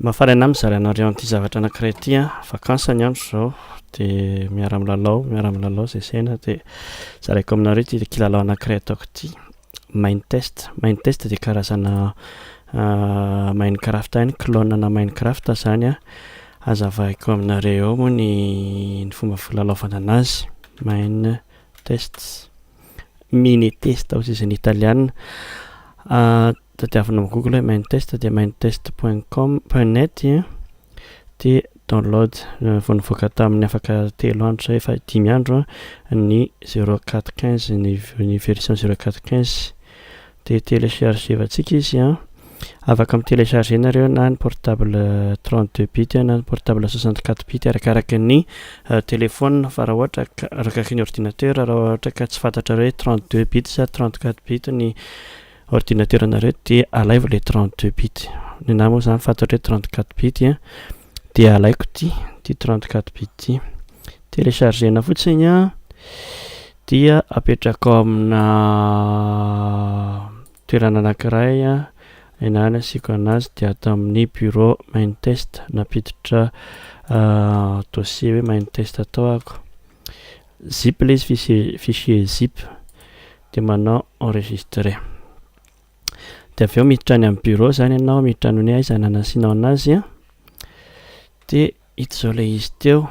Mafaraina mizara anareo an'ity zavatra anankiray ity an, vacances ny andro izao dia miara milalao miara milalao izay saina dia zaraiko aminareo ity kilalao anankiray ataoko ity mind test, mind test dia karazana mind craft ihany clone ana mind craft izany an, azavaiko aminareo eo moa ny fomba filalaovana an'azy, mind test. Mine test hoy izay ny italiana. Ah, tadiavina amin'ny Google hoe mine test dia minetest.com.net dia download eh, vao nivoaka tamin'ny afaka telo andro zay efa dimy andro ny 0415 ny version 0415 Dia telechargevantsika izy an. Afaka mi-telecharger nareo na ny portable 32 bit na ny portable 64 bit arakaraky ny telephone fa raha ohatra ka arakaraky ny ordinateur raha ohatra ka tsy fantatrareo hoe 32 bit sa 34 bit ny ordinateur nareo dia alaivo le 32 bit. Ny anah moa zany fantatro hoe 34 bit an dia alaiko ty ty 34 bit ty. Telechargena fotsiny an. Dia apetrakao amina toerana anankiray ianao no asiako anazy dia ato amin'ny bureau main test nampiditra dossier hoe main test tao ako, zip ilay izy fichier zip dia manao enregistrer dia avy eo miditra any amin'ny bureau zany ianao miditra any hoe aiza no anasianao anazy dia ito zao ilay izy teo.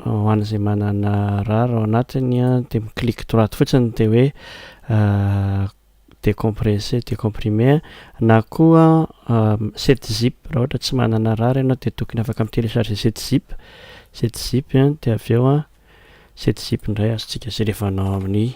ho an'izay manana rar ao anatiny dia mi-click droite fotsiny dia hoe décompresser, décomprimer na koa set zip raha ohatra tsy manana rar ianao dia tokony afaka mi-télécharger set zip, set zip dia avy eo set zip indray azontsika jerevana ao amin'ny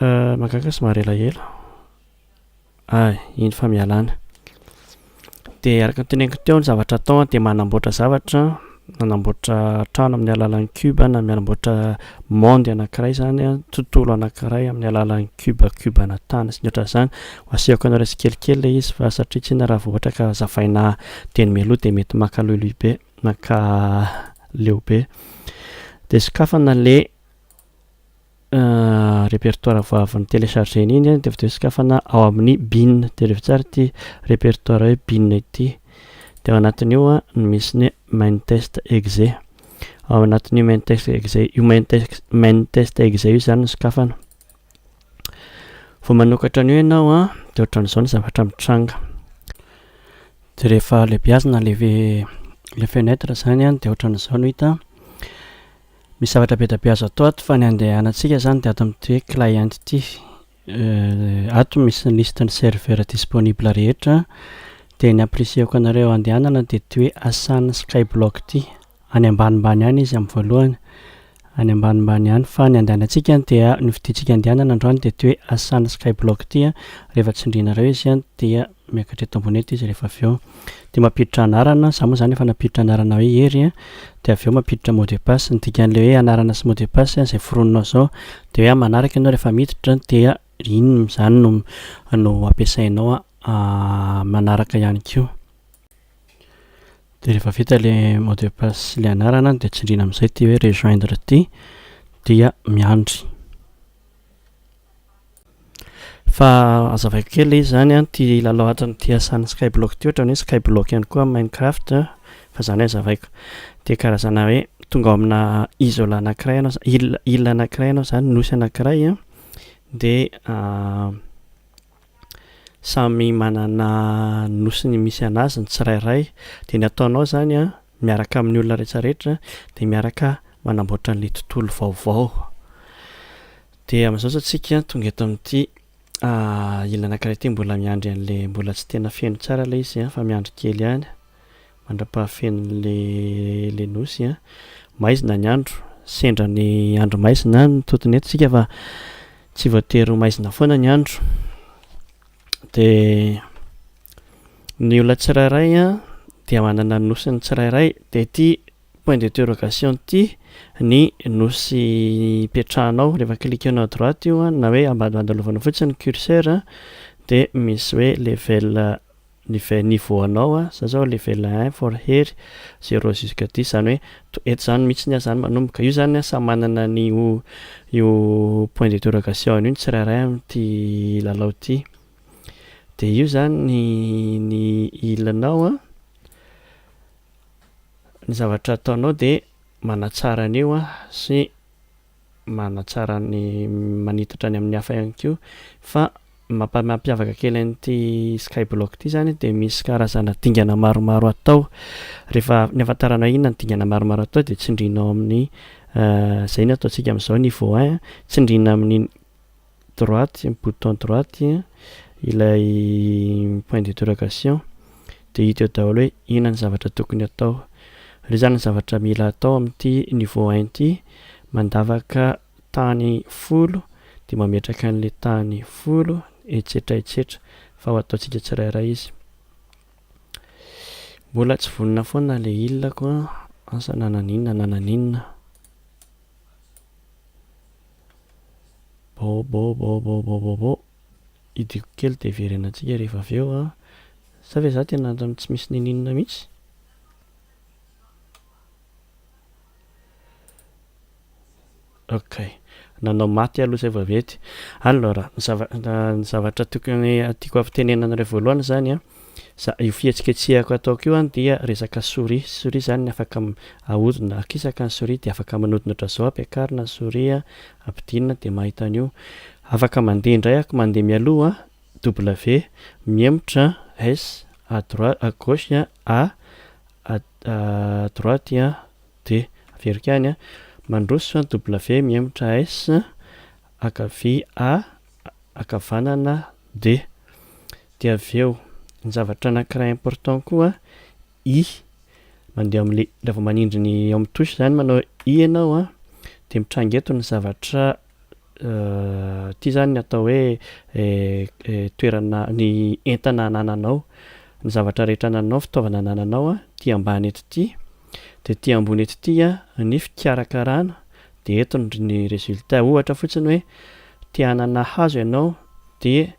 Mahagaga sy mahaelahela ah iny fa mialana de araka ny teneniko teo ny zavatra atao dia manamboatra zavatra manamboatra trano amin'ny alalan'ny cube na manamboatra monde anankiray izany an, tontolo anankiray amin'ny alalan'ny cube cube ana tany sy ny ohatran'izany ho asehoko anareo tsikelikely ilay izy fa satria tsy inona raha vao ohatra ka zavaina dieny mialoha dia mety maka loiloy be maka leo be dia sokafana le repertoire vao avy ni-telecharger-na iny dia avy teo sokafana ao amin'ny bin, direvo tsara ity repertoire hoe bin ity, dia ao anatin'io no misy ny main test exe, ao anatin'io main test exe, io main test, main test exe io izany no sokafana. Vao manokatra an'io ianao an, dia ohatran'izao ny zavatra mitranga. Dia rehefa lehibiazina le, le fenêtre izany an, dia ohatran'izao no hita. Misy zavatra be dia be azo atao ato fa ny andehanantsika izany dia ato amin'ity hoe client ity. Ato misy ny liste ny serveur disponible rehetra dia ny ampirisihako anareo andehanana dia ity hoe Asan Skyblock ity. Any ambanimbany any izy amin'ny voalohany. Any ambanimbany any fa ny andehanantsika dia ny fidintsika andehanana androany dia ity hoe Asan Skyblock ity. Rehefa tsindrinareo izy dia Miakatra eto ambony eto izy rehefa avy eo dia mampiditra anarana, za moa zany efa nampiditra anarana hoe Hery a, dia avy eo mampiditra mot de passe, ny dikan'ilay hoe anarana sy mot de passe izay foroninao zao dia hoe amin'ny manaraka ianao rehefa miditra dia iny izany no no ampiasainao amin'ny manaraka ihany koa. Dia rehefa vita ilay mot de passe sy ilay anarana dia tsindriana amin'izay ity hoe rejoindre ity dia miandry. Fa azavaiko kely ilay izy izany an, ity lalao atrany ity asan'ny skyblock ity ohatrany hoe skyblock ihany koa amin'ny minecraft fa izany azavaiko dia karazana hoe tonga ao amina isola anakiray ianao za- île île anakiray ianao izany nosy anakiray an dia samy manana ny nosiny misy an'azy ny tsirairay dia ny ataonao izany an miaraka amin'ny olona rehetra rehetra dia miaraka manamboatra an'ilay tontolo vaovao Dia amin'izao izao tsika tonga eto amin'ity ila anankiray ity mbola miandry an'le mbola tsy tena feno tsara ilay izy an fa miandry kely ihany mandra-pahafenon'le le nosy an. Maizina ny andro, sendra ny andro maizina an mitotona eto tsika fa tsy voatery ho maizina foana ny andro. Dia ny olona tsirairay an dia manana ny nosiny tsirairay dia ity point d'interrogation ity ny nosy ipetrahanao rehefa cliquenao à droite io an na hoe ambadimbadilovanao fotsiny ny curseur an dia misy hoe level level niveau anao an za zao level un for hery zero jusque dix zany hoe to eto zany mitsy ny azany manomboka io zany an samy manana ny io io point d'interrogation io ny tsirairay amty lalao ty dia io zany ny ny ilanao an. Ny zavatra ataonao dia manatsara an'io sy manatsara ny manitatra any amin'ny hafa ihany koa fa ny mampiavaka kely an'ity skyblock ity izany dia misy karazana dingana maromaro atao rehefa ny ahafantaranao inona ny dingana maromaro atao dia tsindrinao amin'ny izay ny ataontsika amin'izao niveau un tsindrina amin'ny droite, bouton droite ilay point d'interrogation dia hita eo daholo hoe inona ny zavatra tokony atao. Ireo izany ny zavatra mila atao amin'ity niveau un ity, mandavaka tany folo dia mametraka an'ilay tany folo etsetra etsetra fa ho ataontsika tsirairay izy. Mbola tsy vonona foana ilay ilako an, asa na naninona na naninona. Baobaobaobaobaobaobaobao idiko kely de hiverena antsika rehefa avy eo an! Sa ve za tena antony tsy misy ninianina mihitsy? Ok, nanao maty aloha zay vao avy ety. Alors, ny zavatra tokony tiako ampitenenana indray voalohany zany an, Za, io fihetsiketsehako ataoko io an dia resaka souris, souris zany afaka ahodina, akisaka ny souris dia afaka manodina otrazao ampiakarina ny souris an, ampidinina dia mahita an'io, afaka mandeha indray ak mandeha mialoha an, W, mihemotra an, S, à droit, à gauche an, A, à à droite an, D, averiko ihany an, mandroso an, W, mihemotra S, ankavia A, ankavanana De. De avy eo, ny zavatra anankiray important koa, i, mandeha ao amin'ilay, raha vao manindry ny ao amin'ny touche izany manao i ianao an, dia mitranga eto ny zavatra, ity izany ny atao hoe toerana, ny entana anananao, ny zavatra rehetra anananao, ny fitaovana anananao an, ity ambany eto ity, dia ity ambony eto ity an, ny fikarakarana. dia eto ny résultat ohatra fotsiny hoe te hanana hazo ianao dia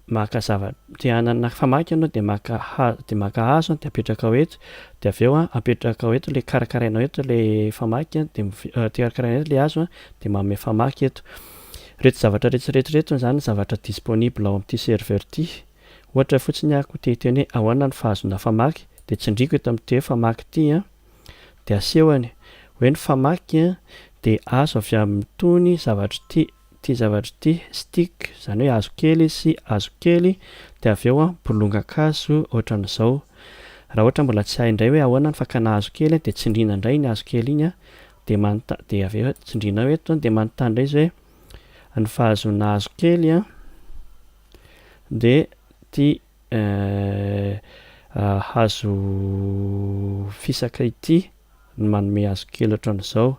maka zava te hanana famaky ianao dia maka hazo dia maka hazo dia apetrakao eto dia avy eo a apetrakao eto le karakarainao eto le famaky a dia miv- te karakarainao eto le hazo a dia manome famaky eto reto zavatra reto reto reto zany zavatra disponible ao amin'ity serveur ity ohatra fotsiny aho ko te hiteny hoe ahoana ny fahazoana famaky dia tsindriako eto amin'ity hoe famaky ity a. Dia asehony, hoe ny famaky dia azo avy amin'itony zavatra ity, ity zavatra ity, stick, izany hoe hazo kely sy hazo kely, dia avy eo bolongan-kazo ohatran'izao. Raha ohatra mbola tsy hay indray hoe ahoana ny fakana hazo kely dia tsindriana indray iny hazo kely iny, dia manontany, dia avy eo tsindriana ao eto, dia manontany indray izy hoe ny fahazoana hazo kely dia ity, Eeh hazo fisaka ity no manome hazo kely ohatran'izao.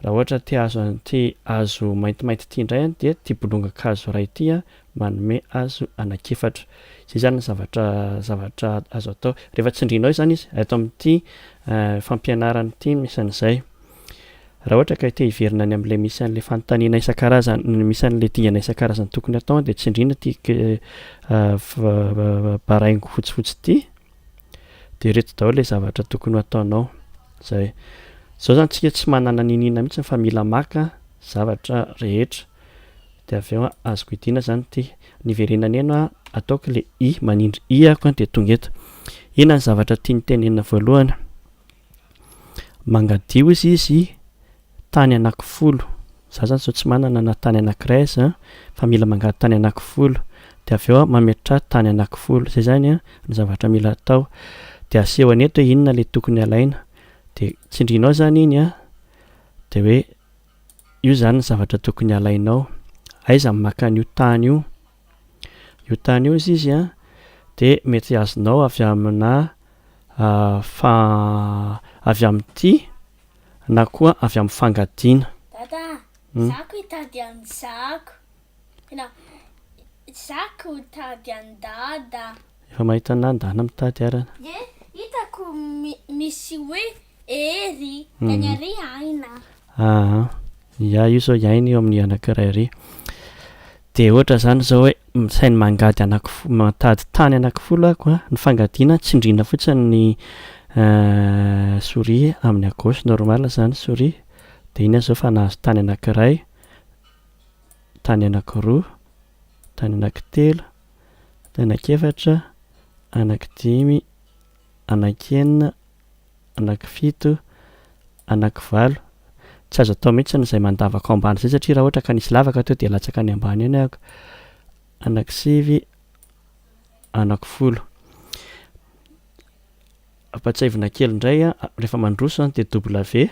Raha ohatra ity hazo an- ity hazo maintimainty ity indray an dia ity bolongan-kazo iray ity an manome hazo anankiefatra. Izay izany no zavatra zavatra azo atao. Rehefa tsindrianao izany izy, ato amin'ity fampianarana ity no isan'izay. Raha ohatra ka te hiverina any amin'ilay misy an'ilay fanontaniana isan-karazany, misy an'ilay dingana isan-karazany tokony hatao dia tsindriana ity baraingo fotsifotsy ity, dia ireto daholo ilay zavatra tokony ho ataonao. Izay. Izao izany tsika tsy manana niniana mihitsy fa mila maka zavatra rehetra. Dia avy eo azoko idiana izany ity. Niverenany eny aho, ataoko ilay i, manindry i aho dia tonga eto. Inona ny zavatra tiany tenenina voalohany? Mangadio izy izy tany anakifolo za zany zao tsy manana na tany anakiray aza fa mila mangady tany anakifolo de avy eo aho mametraha tany anakifolo zay zany a ny zavatra mila atao de aseho any eto hoe inona le tokony alaina de tsindrinao zany iny a de hoe io zany ny zavatra tokony alainao aiza ny maka an'io tany io Io tany io izy an, dia mety azonao avy amina fa avy amin'ity na koa avy amin'ny fangadiana. Dada, izaho koa hitady an'i zako. Tena, izaho koa hitady an'i Dada. Efa mahita an'i Dana mitady arany. Dia hitako misy hoe Ee ry, dia ny ary aina. Aa, ia io izao iaina io amin'ny anankiray ary. Dia ohatra izany izao hoe misainy mangady anakifo- mitady tany anakifolo aho ko, ny fangadiana tsindriana fotsiny ny souris amin'ny à gauche normal izany souris, dia iny aho izao efa nahazo tany anankiray, tany anakiroa, tany anakitelo, tany anakefatra, anakidimy, anaky enina, anaky fito, anaky valo, tsy azo atao mihitsy izay mandavaka ao ambany izay satria raha ohatra ka nisy lavaka teo dia latsaka any ambany any ahako, anaky sivy, anaky folo. Ampatsiahivina kely indray a, rehefa mandroso an dia W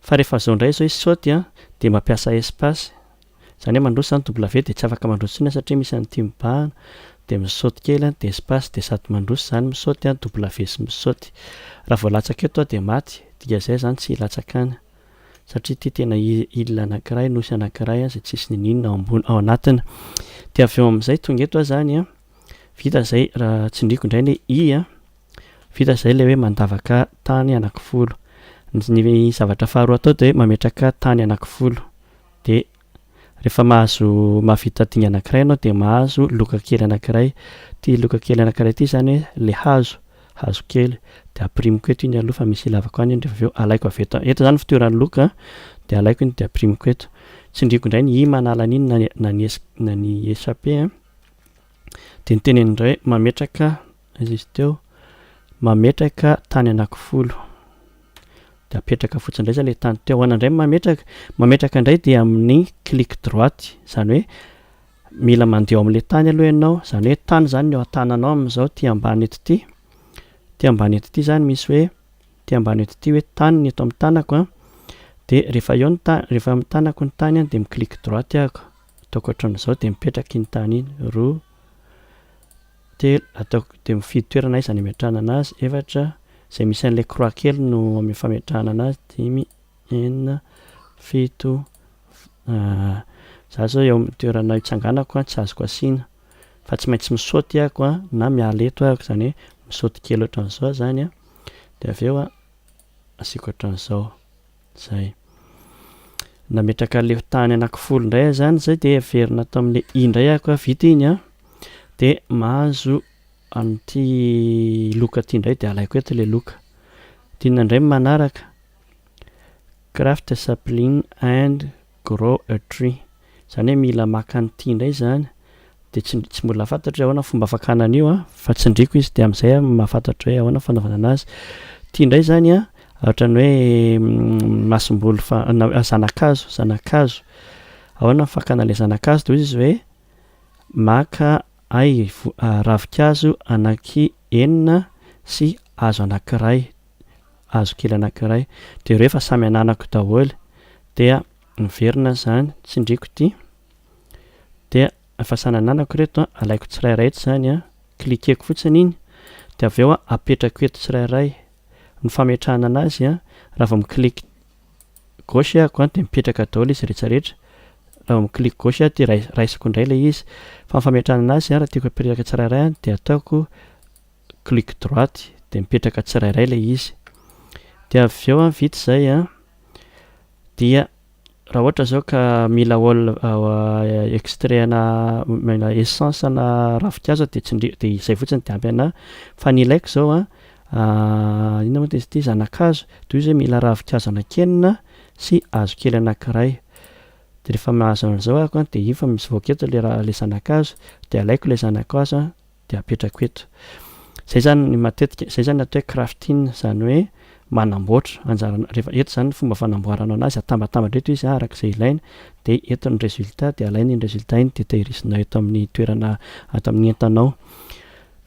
fa rehefa izao indray izao izy saute an dia mampiasa espace Izany hoe mandroso izany W dia tsy afaka mandroso intsony satria misy an'ity mibahana dia misaoty kely dia espace dia sady mandroso izany misaoty W sy misaoty. Raha vao latsaka eto dia maty, dikan'izay izany tsy hilatsaka any satria ity tena île anankiray, nosy anankiray izay tsisy n'inon'inona ao ambony, ao anatiny. Dia avy eo amin'izay tonga eto izany an, vita izay raha tsindriako indray ny i an, vita izay ilay hoe mandavaka tany anakifolo. Ny zavatra faharoa atao dia hoe mametraka tany anakifolo. Dia rehefa mahazo mahavita dinga anankiray ianao dia mahazo loka kely anankiray. Ity loka kely anankiray ity izany hoe ilay hazo, hazo kely. Dia ampirimiko eto iny aloha fa misy ilavako any iny dia avy eo alaiko avy eto. Eto izany ny fitoeran'ny loka dia alaiko iny dia ampirimiko eto. Tsindriako indray ny hima hanala an'iny na ny na ny ess na ny essape a. Dia ny teneniny indray hoe mametraka Izy izy teo mametraka tany anakifolo dia apetraka fotsiny indray izay ilay tany teo anany indray ny mametraka, mametraka indray dia amin'ny clic droite izany hoe mila mandeha ao amin'ilay tany aloha ianao, izany hoe tany izany ny eo an-tananao amin'izao ity ambany eto ity, ity ambany eto ity izany misy hoe ity ambany eto ity hoe tany ny eto amin'ny tanako an, dia rehefa eo ny tany rehefa eo amin'ny tanako ny tany an dia mi-clic droite aho, ataoko ohatran'izao dia mipetraka iny tany iny, roa. Telo, ataoko dia mifidy toerana aiza ny ametrahana anazy. Efatra, izay misy an'ilay croix kely no amin'ny fametrahana anazy. Dimy, enina, fito, za zao eo amin'ny toerana itsanganako an, tsy azoko asiana fa tsy maintsy mi-saute aho an, na miala eto aho, izany hoe mi-saute kely ohatran'izao aho izany an, dia avy eo an, asiako ohatran'izao. Zay. Nametraka leo tany anakifolo indray aho zany zay dia averina ato amin'ny i indray ako a vita iny a dia mahazo an'ity loka ity indray dia alaiko eto ilay loka dia inona indray ny manaraka craft sapling and Grow a tree. Izany hoe mila maka an'ity indray izany dia tsy tsy mbola fantatro hoe ahoana ny fomba fakana an'io an, fa tsindriako izy dia amin'izay aho mahafantatra hoe ahoana ny fanaovana an'azy. Ity indray izany an, ohatran'ny hoe masomboly fa- na hoe zanakazo, zanakazo. Ahoana ny fakana an'ilay zanakazo? Dia hoy izy hoe maka ahy vo- ravinkazo anankienina sy hazo anankiray. hazo kely anankiray jereo efa samy ananako daholo dia miverina izany tsindriko ity dia efa samy ananako reto alaiko tsirairay eto izany a cliqueko fotsiny iny dia avy eo apetrako eto tsirairay ny fametrahana anazy a raha vao mi-clique gauche ahako dia mipetraka daholo izy rehetra rehetra raha vao mi-clique gauche aho dia raisiko indray ilay izy fa ny fametrahana anazy raha tiako apetraka tsirairay dia ataoko clic droite dia mipetraka tsirairay ilay izy dia avy eo an vita izay an dia raha ohatra izao ka mila ol extrait ana mila essence ana ravinkazo dia tsindrio dia izay fotsiny dia ampy ana fa ny ilaiko izao an inona moa dia izy ity zanakazo toy izay mila ravinkazo anankenina sy hazo kely anankiray dia rehefa mahazo an'izao aho dia iny fa mivoaka eto ilay zanakazo dia alaiko ilay zanakazo an dia apetrako eto. Izay izany ny matetika, izay izany atao hoe crafting, izany hoe manamboatra, anjara, rehefa eto izany ny fomba fanamboarana anazy, atambatambatra eto izy araka izay ilaina, dia eto ny résultat, dia alaina iny résultat iny dia tehirizinao eto amin'ny toerana, ato amin'ny entanao.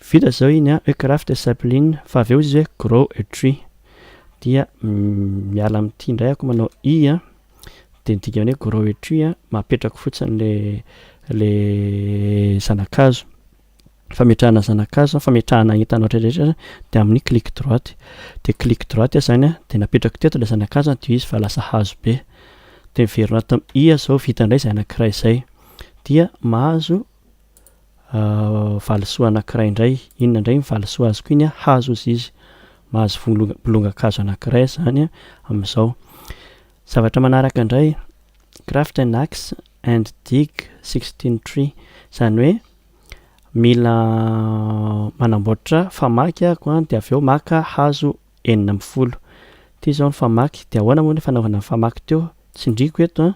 Vita izao iny an, hoe craft a sapling, fa avy eo izy hoe grow a tree. Dia miala amin'ity indray ako manao i an. Dia ny dikan'ilay hoe grow a tree, mapetrako fotsiny ilay ilay zana-kazo. Fametrahana zana-kazo, fametrahana entana ohatra izay izany dia amin'ny clic droite. Dia clic droite aho izany an, dia napetrako teto ilay zana-kazo an, dia io izy efa lasa hazo be. Dia miverina ato amin'ny i aho izao, vita indray izay anankiray izay. Dia mahazo valisoa anankiray indray, inona indray iny valisoa azoko iny an, hazo hozy izy, mahazo volo- bolongan-kazo anankiray izany an, amin'izao. Zavatra manaraka indray, craft an axe and dig sixteen tree, izany hoe mila manamboatra famaky aho dia avy eo maka hazo, enina ambin'ny folo. Ity izao ny famaky, dia ahoana moa ny fanaovana ny famaky teo? Tsindriako eto an,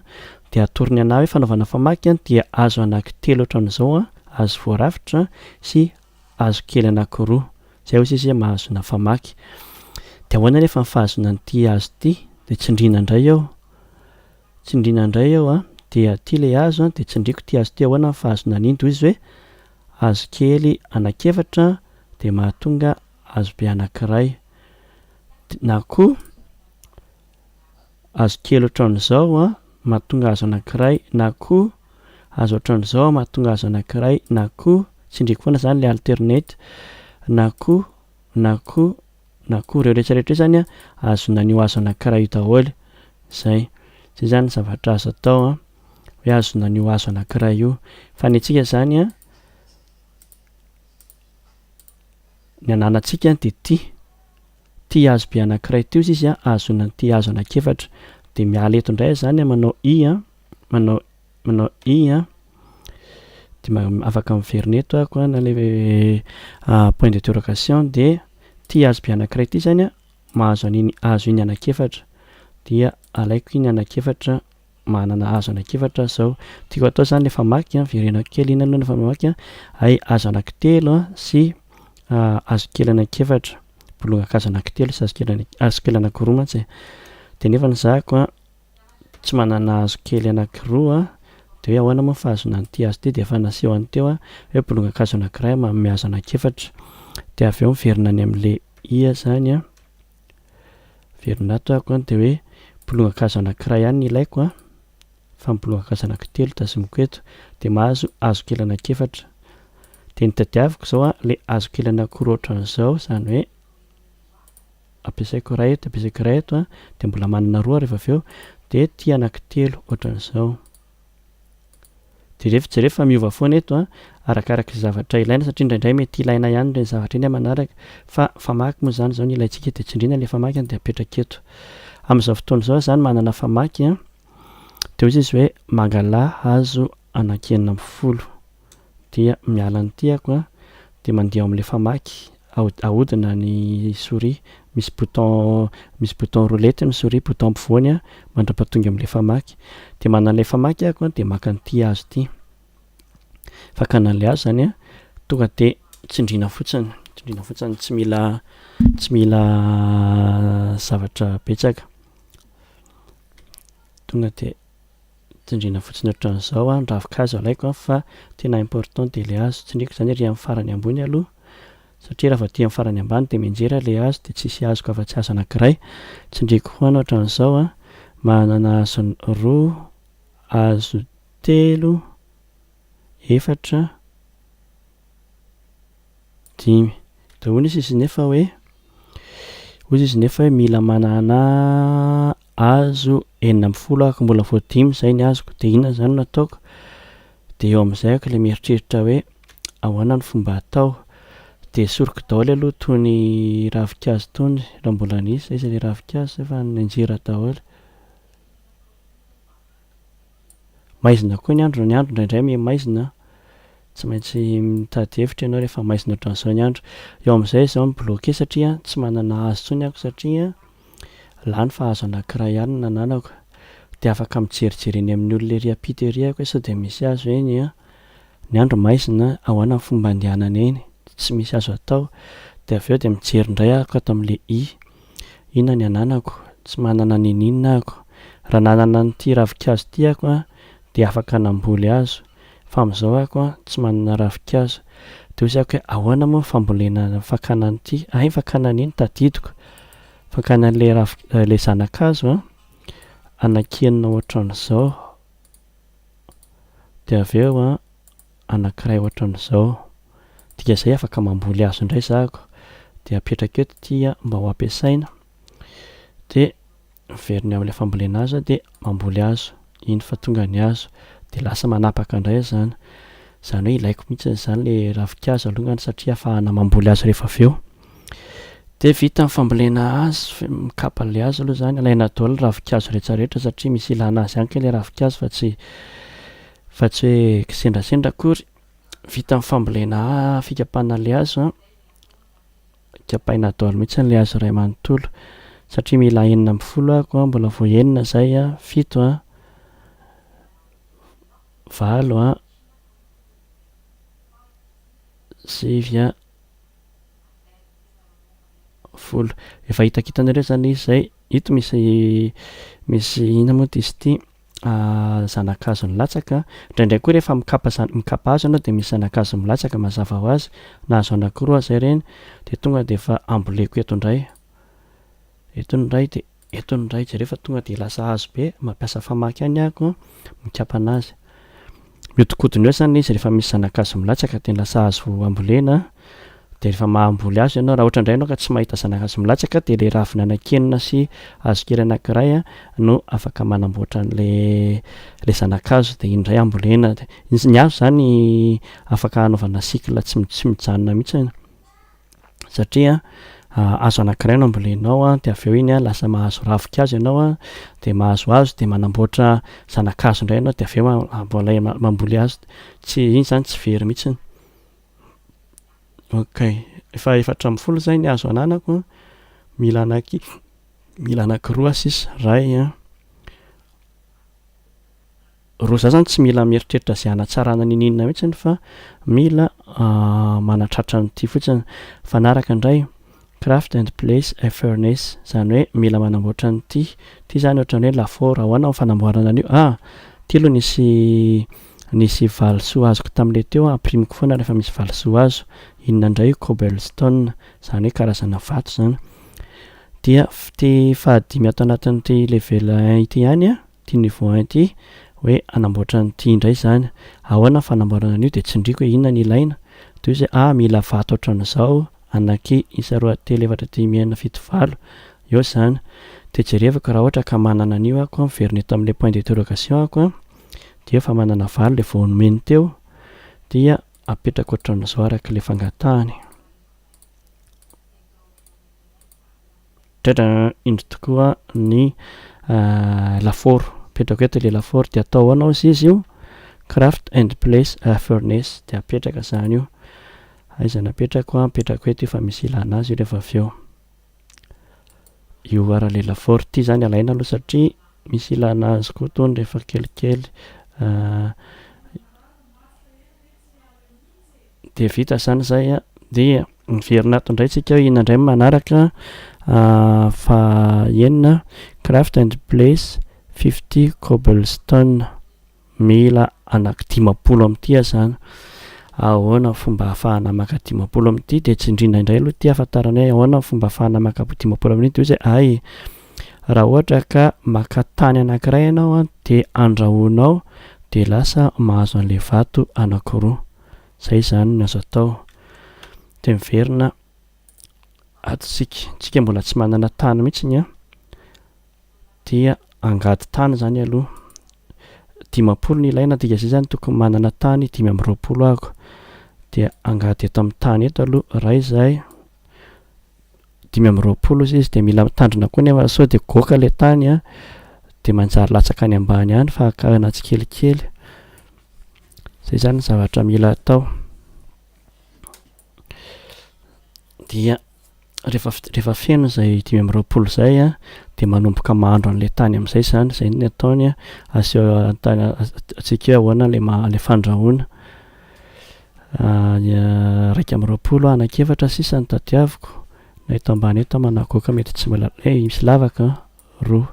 dia atorony anah hoe fanaovana famaky an, dia hazo anankitelo ohatran'izao an, hazo voarafitra sy hazo kely anankiroa. Izay hoy sisa hoe mahazoana famaky. Dia ahoana anefa ny fahazoana an'ity hazo ity? Dia tsindriana indray eo, tsindriana indray eo an, dia ity ilay hazo an, dia tsindriako ity hazo ity, ahoana ny fahazoana an'iny? Dia hoy izy hoe hazo kely anankiefatra dia mahatonga hazobe anankiray, na koa hazo kely ohatran'izao an, mahatonga hazo anankiray, na koa hazo ohatran'izao mahatonga hazo anankiray, na koa tsindriako foana izany ilay alternate, na koa, na koa, na koa, ireo rehetra rehetra ireo izany an, azon'ny anio hazo anankiray io daholo, izay, izay izany ny zavatra azo atao an, hoe azon'ny anio hazo anankiray io, fa ny antsika izany an, Ny ananantsika dia ty. Ty hazo be anankiray ty ozy izy an, ahazoana an ty hazo anakefatra. Dia miala eto indray aho zany an, manao i an, manao, manao i an, dia ma, afaka miverina eto aho ko an, na le point d'interrogation, dia ty hazo be anankiray ty zany an, mahazo an'iny hazo iny anakefatra. Dia alaiko iny anakefatra manana azo anak'efatra aho zao tiako atao zany le famaky an, verenako kely iny aloha ny famaky an, hay azo anakitelo an sy azo kely anak'efatra, bolongakazo anakitelo sy azo kely anakiroa mantsy e, de nefa ny zahako an tsy manana azo kely anakiroa an, de hoe ahoana moa ny fahazoana an'ity azo ity, de efa naseho any teo an hoe bolongakazo anakiray manome azo anak'efatra, de avy eo miverina any amle iha zany an. Velona ato aho an, dia hoe mpilohan-kazo anankiray ihany ny ilaiko an, fa mpilohan-kazo anankitelo tazomiko eto, dia mahazo hazo kely anankiefatra. Dia ny tadiaviko izao an, ilay hazo kely anankiroa ohatran'izao, izany hoe ampiasaiko iray eto, ampiasaiko iray eto an, dia mbola manana roa ary rehefa avy eo dia ity anankitelo ohatran'izao. Jerefo jerefo fa miova foana eto an! Arakaraka izay zavatra ilaina satria indraindray mety ilaina ihany ireny zavatra ireny amanaraka fa famaky moa izany izao ny ilaintsika dia tsindriana ilay famaky dia apetraka eto. Amin'izao fotoana izao za manana famaky an, dia hoy izy hoe mangala hazo anankienina ambin'ny folo. dia miala ny tiako a, dia mandeha ao amin'ilay famaky, ahodina ny souris, misy bouton misy bouton roulette ny souris, bouton ampovoany a, mandra-pahatonga amin'ilay famaky, dia manana ilay famaky aho a, dia maka an'ity azy ity, fakana an'ilay azy izany a, tonga dia tsindriana fotsiny, tsindriana fotsiny, tsy mila tsy mila zavatra betsaka, tonga dia tsindriana fotsiny ohatran'izao an, ravin-kazo alaiko an, fa tena important dia ilay hazo tsindriako izany ery amin'ny farany ambony aloha satria raha vao aty amin'ny farany ambany dia mianjera ilay hazo dia tsisy azoko afa-tsy hazo anankiray tsindriako ho an ohatran'izao an, manana hazo roa, hazo telo, efatra, Dimy. Dia hoy izy nefa hoe, hoy izy nefa hoe mila manana hazo enina ambin'ny folo aho ka mbola vao dimy izay ny hazoko dia inona izany no ataoko? Dia eo amin'izay aho ilay mieritreritra hoe ahoana no fomba hatao? Dia esoriko daholo aloha itony ravinkazo itony raha mbola nisy, aiza ilay ravinkazo? Efa nenjehira daholo. Maizina koa ny andro, ny andro indraindray miha maizina, tsy maintsy mitady hevitra ianao rehefa maizina ohatran'izao ny andro. Eo amin'izay izaho mi-bloquer satria tsy manana hazo intsony aho satria lany fa hazo anankiray ihany no nananako. Dia afaka mijerijery eny amin'ny olona ery ampita ery aho hoe sao dia misy hazo eny an! Ny andro maizina, ahoana ny fomba andehanana eny? Tsy misy azo atao. Dia avy eo dia mijery indray aho ato amin'ilay i. Inona ny ananako? Tsy manana n'ininona ako. Raha nanana an'ity ravinkazo ity ako dia afaka namboly azo. Fa amin'izao ako tsy manana ravinkazo. Dia hoy zako hoe ahoana moa ny fambolena fakana an'ity? Hay fakana an'iny tadidiko. Fakana an'ilay ravi- ilay zanakazo anakianina ohatran'izao. Dia avy eo an. anankiray ohatran'izao. Dia zay afaka mamboly azy indray zako dia apetraka eto ity a mba ho ampiasaina dia miverina eo amin'ilay fambolena azy aho dia mamboly azy iny fa tonga ny azy dia lasa manapaka indray izany. Izany hoe ilaiko mihitsy izany ilay ravinkazo alongany satria ahafahana mamboly azy rehefa avy eo. Dia vita ny fambolena azy, f- mikapa an'ilay azy aloha izany, alaina daholo ny ravinkazo rehetra rehetra satria misy ilana azy ihany koa ilay ravinkazo fa tsy Fa tsy hoe kisendrasendra akory. Vita ny fambolena fikapana le hazo an. Kapaina daholo mihitsy le hazo iray manontolo. Satria mila enina ambin'ny folo aho ko an, mbola vao enina izay an, fito an, valo an, sivy an, folo. Efa hitakitanareo izany izy izay. Ito misy, misy inona moa diso ity. zana-kazo nilatsaka, indraindray koa rehefa mikapa zana, mikapa hazo ianao dia misy zana-kazo milatsaka mazava ho azy, na hazo anakiroa aza ireny, dia tonga dia efa amboleko eto indray, eto ny iray dia eto ny iray, jereo fa tonga dia lasa hazo be, mampiasa famaky ihany aho koa mikapa an'azy, Mihodinkodina eo izany izy rehefa misy zanakazo milatsaka dia lasa azo ambolena dia rehefa mahamboly azy ianao raha ohatra indray ianao ka tsy mahita zanakazo milatsaka dia ilay ravina nankinina sy hazokely anankiray no afaka manamboatra an'ilay ilay zanakazo dia iny indray ambolena dia ny hazo izany afaka hanaovana cycle tsy mijanona mihitsy satria hazo anankiray no ambolenao dia avy eo iny lasa mahazo ravinkazo ianao dia mahazo hazo dia manamboatra zanakazo indray ianao dia avy eo mbola mamboly hazo tsy iny izany tsy very mihitsy ok efa efatra ambin'ny folo izay ny hazo ananako mila anaky mila anakiroa sisa iray an Ro za zany tsy mila mieritreritra ze hanatsarana niniana mitsiny fa mila manatratra an'ity fotsiny. Mifanaraka ndray, craft and place a furnace, zany hoe mila manamboatra an'ity, ty zany ohatrany hoe lafaoro, ahoana ny fanamboarana an'io? Ah! ty aloha nisy nisy valisoa azoko tamle teo an, amprimiko foana refa misy valisoa azo, inona ndray io cobblestone, zany hoe karazana vato zany. Dia ty fahadimy ato anatin'ity level un ity ihany an, Ity Nivoahan ity hoe hanamboatra an'ity indray izany, ahoana ny fanamboarana an'io dia tsindriako hoe inona no ilaina, toy izay ah mila vato ohatran'izao, anaky, isa, roa, telo, efatra, dimy, enina, fito, valo, eo izany, dia jerevako raha ohatra ka manana an'io aho koa miverina eto amin'ilay point d'interrogation aho koa, dia efa manana valo ilay vao nomeny teo, dia apetrako ohatran'izao arak'ilay fangatahany. Mitratra indro tokoa ny lafaoro. Apetrako eto ilay lafaoro dia atao ahoana hozy izy io? Craft and place a furnace dia apetraka izany io. Aiza no apetrako? Apetrako eto io fa misy ilana azy io rehefa avy eo. Io ara ilay lafaoro ity izany alaina aloha satria misy ilana azy koa itony rehefa kelikely. Dia vita izany izay an, dia miverina ato indray tsika iny indray ny manaraka fa enina craft and place fifty cobblestone mila anaky dimampolo amin'ity azany ahoana fomba hahafahana maka dimampolo amin'ity dia tsindrina indray aloha ity hafantarana hoe ahoana fomba hahafahana maka dimampolo amin'ity dia hoe izay ay Raha ohatra ka maka tany anankiray ianao an dia andrahoinao dia lasa mahazo an'ilay vato anankiroa. Izay izany no azo atao. Dia miverina ato isika. Isika mbola tsy manana tany mihitsy ny an. Dia angady tany izany aloha. Dimampolo ny ilaina dika izay izany tokony manana tany dimy amby roapolo ahako. Dia angady eto amin'ny tany eto aloha iray izay. dimy amby roapolo izy dia mila mitandrina koa nefa sao dia goaka ilay tany a dia manjary latsaka any ambany any fa akarana tsikelikely izay izany ny zavatra mila atao dia rehefa rehefa feno izay dimy amby roapolo izay a dia manomboka mahandro an'ilay tany amin'izay izany izay ny ataony a aseo antany atsika hoe ahoana ilay maha ilay fandrahoana Iraika amby roapolo anak'efatra sisa no tadiaviko, na eto ambany eto ama na goaka mety tsy mbola eh misy lavaka an, roa,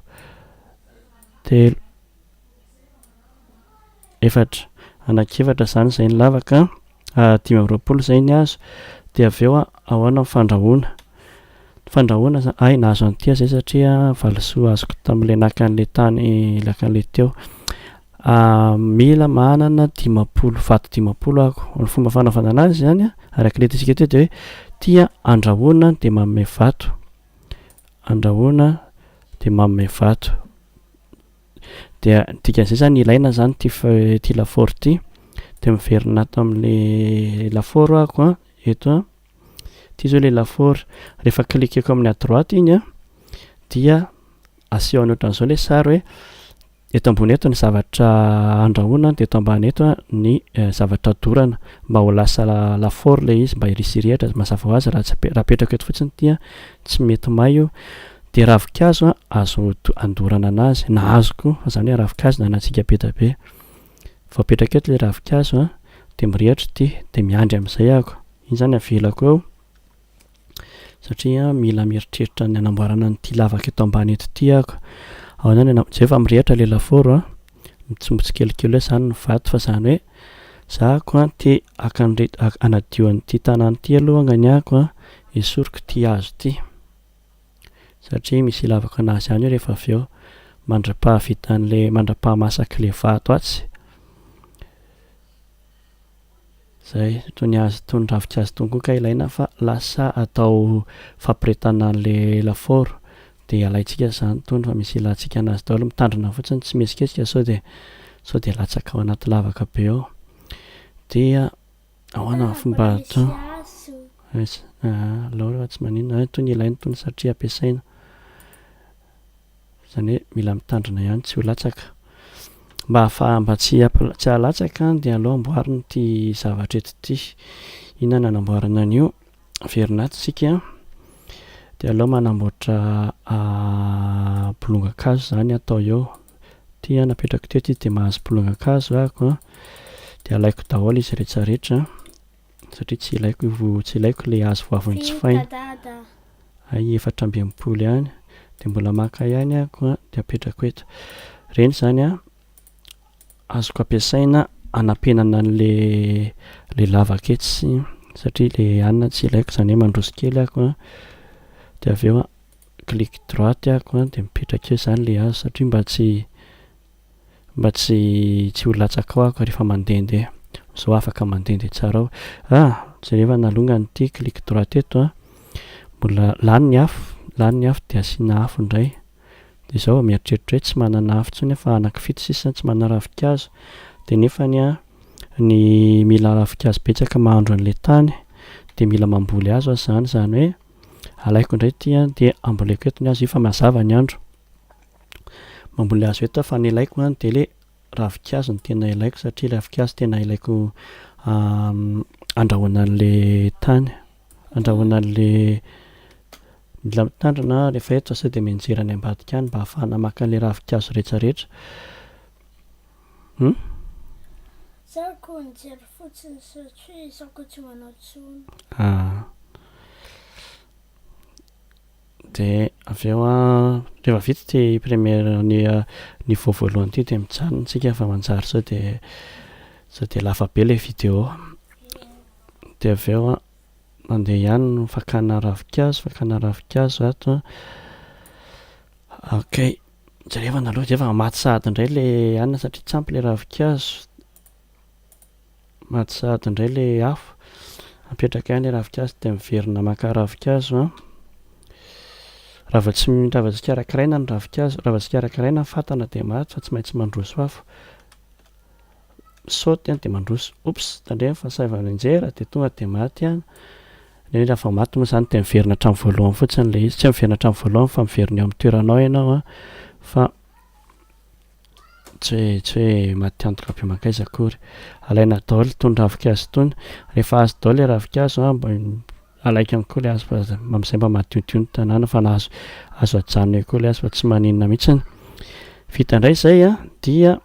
telo, efatra, anak'efatra zany izay ny lavaka an, dimy amby roapolo izay ny azo, dia avy eo ahoana ny fandrahoana. Fandrahoana za, hay nahazo an'ity aho zay satria valisoa azoko tam'le naka an'le tany naka an'le teo. Mila manana dimampolo vato dimampolo ako, ny fomba fanaovana anazy zany a arak'le hitantsika teo de hoe tia andrahoana de manome vato, andrahoana de manome vato, dia ny dikan'zay zany ilaina zany ty fa- ty lafaoro ty, de miverina ato am'le lafaoro ako a, eto a. Ity izao ilay lafaoro. Rehefa cliquer-ko amin'ny à droite iny an, dia asehony ohatran'izao ilay sary hoe eto ambony eto ny zavatra andrahoina dia eto ambany eto ny zavatra dorana mba ho lasa lafaoro ilay izy mba hirisirihatra azy. Mazava ho azy raha tsy raha apetrako eto fotsiny dia tsy mety may io. Dia ravinkazo an, azo andorana an'azy na hazo koa, izany hoe ravinkazo na antsika be dia be. Vao apetraka eto ilay ravinkazo a, dia mirehitra ity, dia miandry amin'izay ahako, iny izany avelako eo satria mila mieritreritra ny hanamboarana an'ity lavaka eto ambany eto ity ahako, ao izany na, izay efa mirehitra ilay lafaoro a, mitsimo tsikelikely hoe izany ny vato fa izany hoe za ahako a te haka an'ireto, hanadio an'ity tanàna ity aloha angany ahako a, esoriko ity hazo ity. satria misy hilavaka anazy any io rehefa avy eo mandrapahavitan'le mandrapahamasaky'le vato atsy zay toy ny azy toy ny ravinkazo tony koa ka ilaina fa lasa atao fampiretana an'le lafaoro de alaintsika zany tony fa misy hilantsika anazy daholo mitandrina fotsiny tsy mihetsiketika sao de sao de latsaka ao anaty lavaka be ao dia Ahoana ny fomba atao? Aiza? Aa Laura fa tsy maninona zany itony ilaina itony satria ampiasaina. Izany hoe mila mitandrina ihany tsy ho latsaka. Mba hahafaha mba tsy hampi- tsy hahalatsaka dia aleo amboarina ity zavatra eto ity. Inona no anamboarana an'io? Miverina ato isika dia aleo manamboatra bolongan-kazo izany atao eo. Ity napetrako teto izy dia mahazo bolongan-kazo ahako dia alaiko daholo izy rehetra rehetra satria tsy ilaiko tsy ilaiko ilay hazo vavony tsy faina. Hay efatra amby enimpolo ihany dia mbola maka ihany ahako dia apetrako eto. Ireny izany Azoko ampiasaina hanampenana an'le le lavaka etsy satria le anona tsy ilaiko zany hoe mandroso kely aho ko de avy eo clic droite aho ko de mipetraka eo zany le hazo satria mba tsy mba tsy tsy ho latsaka ao aho ka refa mandendeha zao afaka mandendeha tsara ao ah jereva nalongany ity clic droite eto a mbola lany ny afo lany ny afo de asiana afo ndray dia zaho mieritreritra hoe tsy manana afo intsony aho fa anakifito sisa tsy manana ravinkazo dia nefany an ny mila ravinkazo betsaka mahandro an'ilay tany dia mila mamboly azy aho izany izany hoe alaiko indray ity an dia amboleko eto ny azy io fa mazava ny andro mamboly azy eto aho fa ny ilaiko an dia ilay ravinkazo no tena ilaiko satria ravinkazo tena ilaiko handrahoana an'ilay tany Andrahoina an'le mila mitandrina rehefa eto fa sao dia mianjera any ambadika any mba ahafahana maka an'le ravinkazo retraretra humm. Za ko nijery fotsiny satria za ko tsy manao tsony. Ah. De avy eo an, rehefa vita ity première ny niveau voalohany ity dia mijanona tsika fa manjary sao dia sao dia lava be le vidéo. Dia avy eo an, mandeha ihany ny fakana ravinkazo, fakana ravinkazo ato an, ok, dia rehefa naleo dia efa maty sahady indray ilay anona satria tsy ampy ilay ravinkazo, maty sahady indray ilay afo, apetraka ihany ilay ravinkazo dia miverina maka ravinkazo an, raha vao tsy, raha vao tsy karakaraina ny ravinkazo, raha vao tsy karakaraina ny fatana dia maty fa tsy maintsy mandroso afo, Misaoty an dia mandroso. Oups, tandremo fa saivo any anjera dia tonga dia maty an, nefa raha vao maty moa izany dia miverina hatramin'ny voalohany fotsiny ilay izy, tsy hoe miverina hatramin'ny voalohany fa miverina eo amin'ny toeranao ianao an, fa tsy hoe tsy hoe maty antoka be mankaiza akory. Alaina daholo itony ravinkazo itony, rehefa azo daholo ilay ravinkazo an, mba alaiky ihany koa ilay hazo fa amin'izay mba madiodio ny tanàna fa na azo azo ajanona eo koa ilay hazo fa tsy maninona mihitsy. Vita indray izay an, dia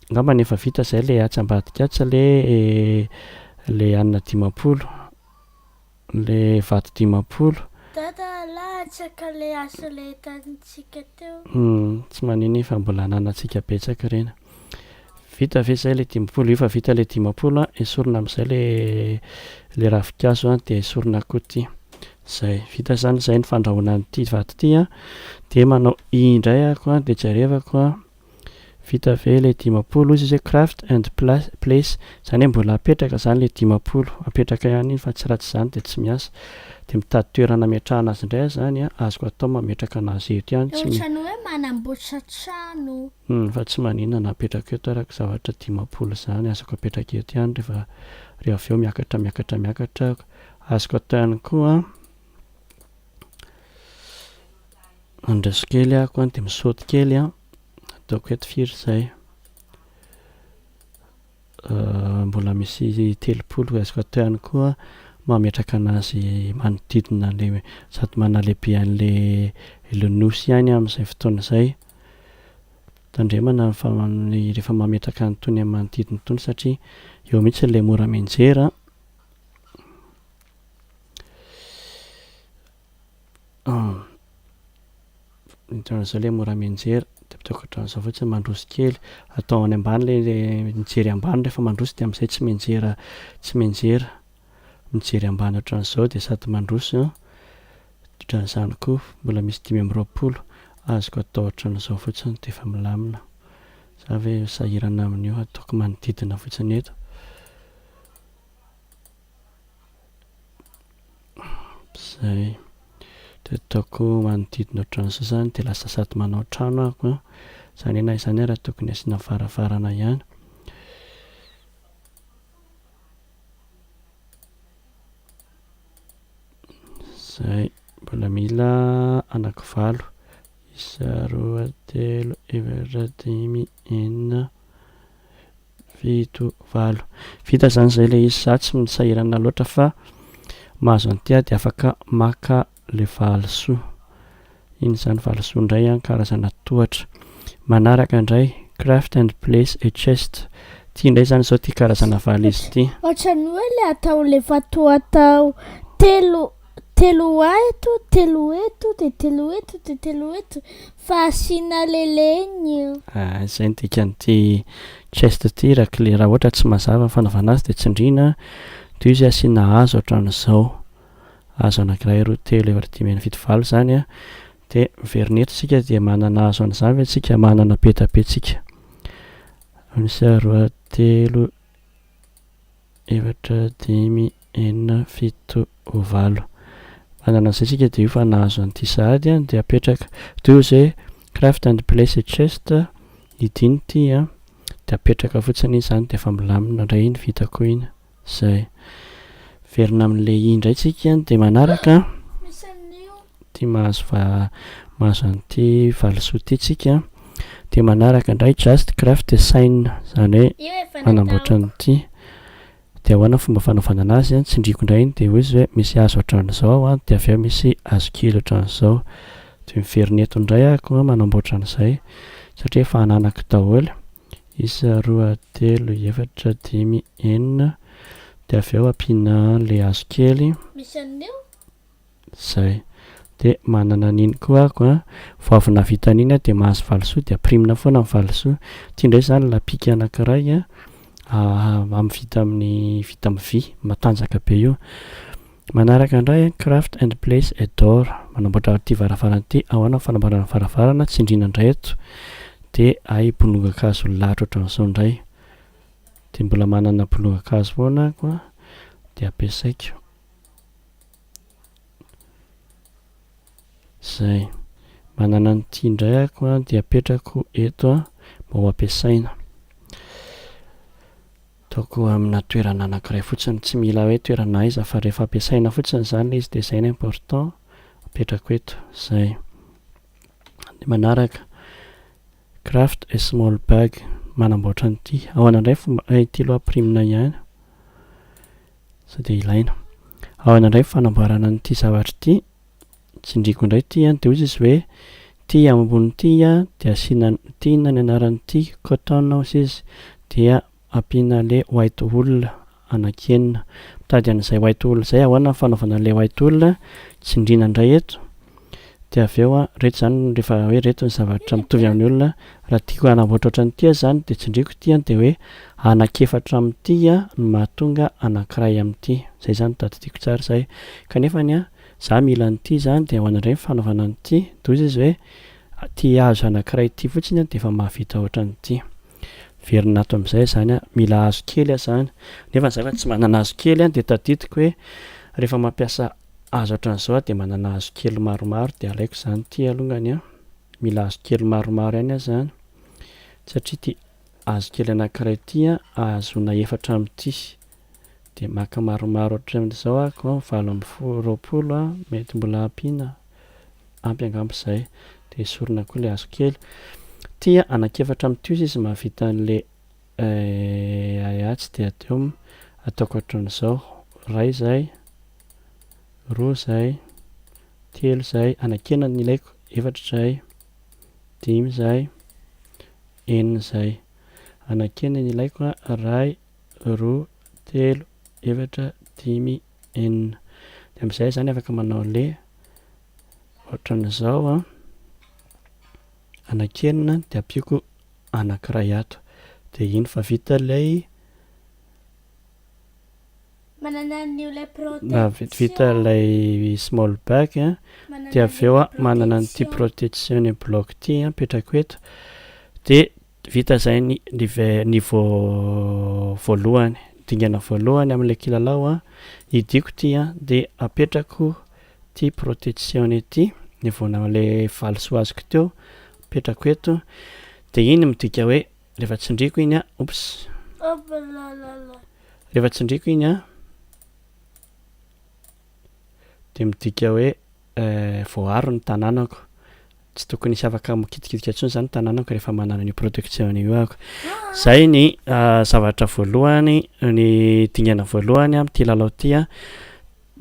Angambany efa vita zay le atsy ambadika atsy sa le le anina dimampolo? Le vato dimampolo? Dada alatsaka le asa le hitantsika teo. Humm tsy manino iny fa mbola ananantsika betsaka ireny. Vita ve zay le dimampolo? Efa vita le dimampolo an! Esorina amzay le le ravinkazo an! De esorina koa ty. Zay. Vita zany zay ny fandrahoana an'ity vato ty an! De manao indray ako an! De jerevako an! Vita ve le dimampolo hozy izy hoe craft and place zany hoe mbola apetraka zany le dimampolo apetraka ihany iny fa tsy raha tsy zany dia tsy miasa dia mitady toerana ametrahana azy indray zany an azoko atao mametraka anazy eto ihany tsy Ohatran'ny hoe manamboatra trano. Humm fa tsy maninona na apetrako eto ara ko zavatra dimampolo zany azoko apetraka eto ihany rehefa re avy eo miakatra miakatra miakatra azoko atao ihany koa an. Mandroso kely aho koa dia misaoty kely an, ataoko eto firy izay? mbola misy telopolo ho azoko atao ihany koa mametraka an'azy manodidina an'ilay sady manalehibe an'ilay ilay nosy ihany amin'izay fotoana izay. Tandremana ny fa- ny rehefa mametraka an'itony amin'ny manodidina itony satria eo mihitsy ilay mora mianjera. An! Mijanona izao le mora mianjera de mitaokatrano izao fotsiny mandroso kely atao any ambany le mijery ambany rehefa mandroso de amizay tsy mianjera tsy mianjera mijery ambany otran'izao de sady mandroso an! Otran'izany koa mbola misy dimy amby roapolo azoko atao otran'izao fotsiny de efa milamina za ve sahirana amin'io ataoko manodidina fotsiny eto. Zay. Dia ataoko manodidina ohatran'ny sasany dia lasa sady manao trano ahako an. Izany aneha izany ary tokony asiana varavarana ihany. Zay. Mbola mila anaky valo. Isa, roa, telo, efatra, dimy, enina. fito, valo. Vita zany zay le izy za tsy misahirana loatra fa mahazo an'ity aho de afaka maka le valisoa. Iny zany valisoa indray an, karazana tohatra. Manaraka indray craft and place a chest. Ty indray zany zao ty karazana valizy ty. Ohatran'ny hoe le atao le fatwa atao telo Telo aeto, telo eto, dia telo eto, dia telo eto, fa asiana leleny io. Ah, izay ny dikan'ity chest ity raclé, raha ohatra tsy mazava ny fanaovana azy dia tsindriana, dia io izay asiana hazo ohatran'izao, hazo anankiray, roa, telo, efatra, dimy, enina, fito, valo izany an, dia miverina eto isika dia manana hazo an'izany ve isika, manana petape tsika, misy roa, telo, Efatra, dimy, enina, fito, valo. Manana izay isika dia io fa nahazo an'ity sahady an dia apetraka. Toy izay craft and place a chest hidiny ity an dia apetraka fotsiny izy izany dia efa milamina indray iny vita koa iny. Izay. Miverina amin'ilay i indray isika dia manaraka. Ity mahazo va mahazo an'ity valisoa ity tsika dia manaraka indray just craft design zany hoe Io efa natao. manamboatra an'ity dia ahoana ny fomba fanaovana anazy an tsindriako indray iny dia hoy izy hoe misy hazo ohatran'izao ao an dia avy eo misy hazo kely ohatran'izao dia miverina eto indray ako an manamboatra an'izay satria efa ananako daholo isa roa telo efatra dimy enina dia avy eo ampiana an'ilay hazo kely Misy an'io? Zay. De manana an'iny koa ako a, vao avy navita an'iny aho de mahazo valisoa de aprimina foana ny valisoa. Ty ndray zany lapika anakiray a amin'ny vita amin'ny vita amin'ny vy matanjaka be io. Manaraka ndray a craft and place et door manamboatra ty varavarana ty, ahoana ny fanamboarana varavarana, tsindriana ndray eto de hay bolongakazo lalitra otran'zao ndray. De mbola manana bolongakazo foana ako a de ampiasaiko. Zay. Manana an'ity indray ako a, dia apetrako eto a, mba ho ampiasaina. Ataoko amina toerana anankiray fotsiny, tsy mila hoe toerana aiza fa rehefa ampiasaina fotsiny izany ilay izy dia izay no important, apetrako eto. Zay. Ny manaraka, craft a small bag, manamboatra an'ity. Ahoana indray ny fomba, ity aloha ampirimina ihany. Sao dia ilaina. Ahoana indray ny fanamboarana an'ity zavatra ity? Tsindriako indray ity an, dia hoy izy hoe, ity ambony ity an, dia asiana ity inona ny anaran'ity? Cotton hoy izy, dia ampiana ilay white wool anankienina. Mitady an'izay white wool izay, ahoana ny fanaovana an'ilay white wool? Tsindriana indray eto. Dia avy eo an, ireto izany rehefa hoe ireto ny zavatra mitovy amin'ny olona, raha tiako hanamboatra ohatran'ity aho izany dia tsindriako ity an, dia hoe anankiefatra amin'ity an no mahatonga anankiray amin'ity. Izay izany no tadidiako tsara izay. Kanefa ny an, izaho mila an'ity izany dia ahoana indray ny fanaovana an'ity? Dia hoy izy hoe ity hazo anankiray ity fotsiny an dia efa mahavita ohatran'ity. Miverina ato amin'izay izany an, mila hazo kely aho izany. Nefa izaho efa tsy manana hazo kely an, dia tadidiko hoe rehefa mampiasa Aza ohatran'izao aho dia manana hazokely maromaro dia alaiko izany ity alongany an, mila hazokely maromaro ihany aho izany satria ity hazokely anankiray ity an ahazoana efatra amin'ity dia maka maromaro ohatran'izao aho ko valo ambin'ny folo, roapolo an, mety mbola ampiana, ampy angamba izay dia esorina koa ilay hazokely, ity an anankiefatra amin'ity ozy izy mahavita an'ilay Eh aia tsy dia teo m, ataoko hatran'izao, ray izay, roa izay, telo izay, anakena ny ilaiko, efatra izay, dimy izay, enina izay, anakena ny ilaiko a, ray, roa, telo, efatra, dimy, enina, dia amin'izay izany afaka manao le, ohatran'izao an. anaky enina de ampiako anakiray ato de iny fa vita lay Manana an'io ilay protection. Vita ilay small bag a, dia avy eo manana an'ity protection block ity apetrako eto, dia vita izay ny niveau voalohany, dingana voalohany amin'ilay kilalao a, hidiako ity a, dia apetrako. Ity protection ity ny voanao le valisoa azoko teo apetrako eto de iny midika hoe rehefa tsindriko iny a oops rehefa tsindriko iny a de midika hoe voaaro ny tananako tsy tokony hisy afaka mikitikitika tsony zany tananako rehefa manana an'io protection io aho zay ny zavatra voalohany ny dingana voalohany amty lalao ty a.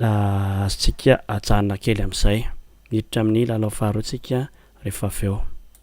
Na azontsika ajanona kely amin'izay. Miditra amin'ny lalao faharoantsika rehefa avy eo.